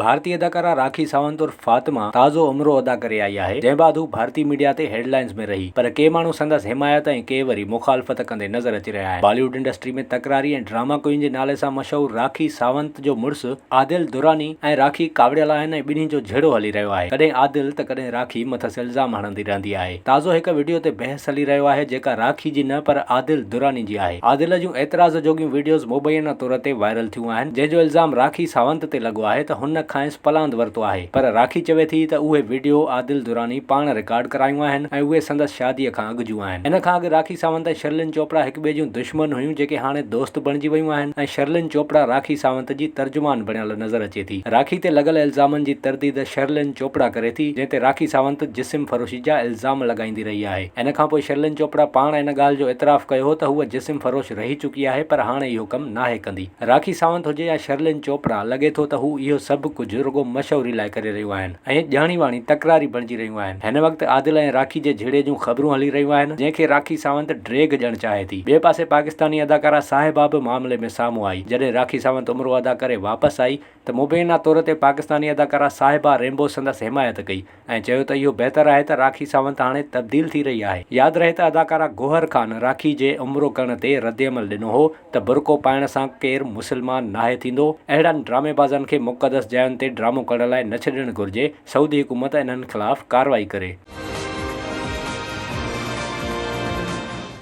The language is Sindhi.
ڀارتي اداڪارا راکي ساونت عرف فاطمه تازو عمرو ادا ڪري آئي آهي، جنهن بعد هو ڀارتي ميڊيا تي هيڊلائنز ۾ رهي، پر ڪي ماڻهو سندس حمايت ۽ ڪي وري مخالفت ڪندي نظر اچي رهيا آهن. بالي ووڊ انڊسٽري ۾ تڪراري ۽ ڊراما ڪوئين جي نالي سان مشهور راکي ساونت جو مڙس عادل دراني ۽ راکي ڪاوڙيل آهن ۽ ٻنهي جو جهيڙو هلي رهيو آهي، ڪڏهن عادل ته ڪڏهن راکي مٿس الزام هڻندي رهندي آهي. تازو هڪ وڊيو تي بحث هلي رهيو آهي جيڪا راکي جي نه پر عادل دراني جي آهي عادل جون اعتراض جوڳيون وڊيوز مبينا طور تي وائرل ٿيون آهن جنهن جو الزام راکي ساونت تي لڳو آهي ته هن کانئس پلاند ورتو آهي پر راکي چوي ٿي ته اهي وڊيو عادل دراني پاڻ رڪارڊ ڪرايون آهن ۽ اهي سندس شادي کان اڳ جون آهن ان کان اڳ راکي ساونت ۽ شرلين چوپڙا هڪ ٻئي جون دشمن هيون جيڪي هاڻي دوست بڻجي ويون آهن ۽ شرلين چوپڙا راکي ساونت جي ترجمان بڻيل نظر اچي ٿي. راکي تي لڳل الزامن جي ترديد شرلين چوپڙا ڪري ٿي، جنهن تي راکي ساونت جسم فروشي جا الزام لڳائيندي رهي آهي. ان کانپوء شرلين چوپڙا پاڻ ان ڳالهه جو اعتراف ڪيو هو ته هوء جسم فروش رهي چڪي آهي پر هاڻي اهو ڪم ناهي ڪندي. راکي ساونت هجي يا شرلين چوپڙا، لڳي ٿو ته هو اهو سڀ ڪجهه رڳو مشهوري لاء ڪري رهيون آهن. ۽ ڄاڻي واڻي تڪراري بڻجي رهيون آهن. هن وقت عادل ۽ راکي جي جهيڙي جون خبرون هلي رهيون آهن، جنهن کي راکي ساونت ڊيگهه ڏيڻ چاهي ٿي. ٻئي پاسي پاڪستاني اداڪارا صاحبه به معاملي ۾ سامهون آئي. جڏهن راکي ساونت عمرو ادا ڪري واپس آئي ته مبينا طور تي پاڪستاني اداڪارا صاحبه رينبو سندس حمايت ڪئي ۽ چيو ته اهو بهتر آهي ته راکي ساونت هاڻي تبديل ٿي رهي آهي. ياد رهي ته اداڪارا گوهر خان راکي جي عمرو ڪرڻ تي ردعمل ڏنو هو ته برقعو پائڻ سان ڪير مسلمان ناهي ٿيندو، اهڙن ڊرامي بازن کي مقدس جاين تي ڊرامو ڪرڻ لاء نه ڇڏڻ گهرجي، سعودي حڪومت انهن خلاف ڪارروائي ڪري.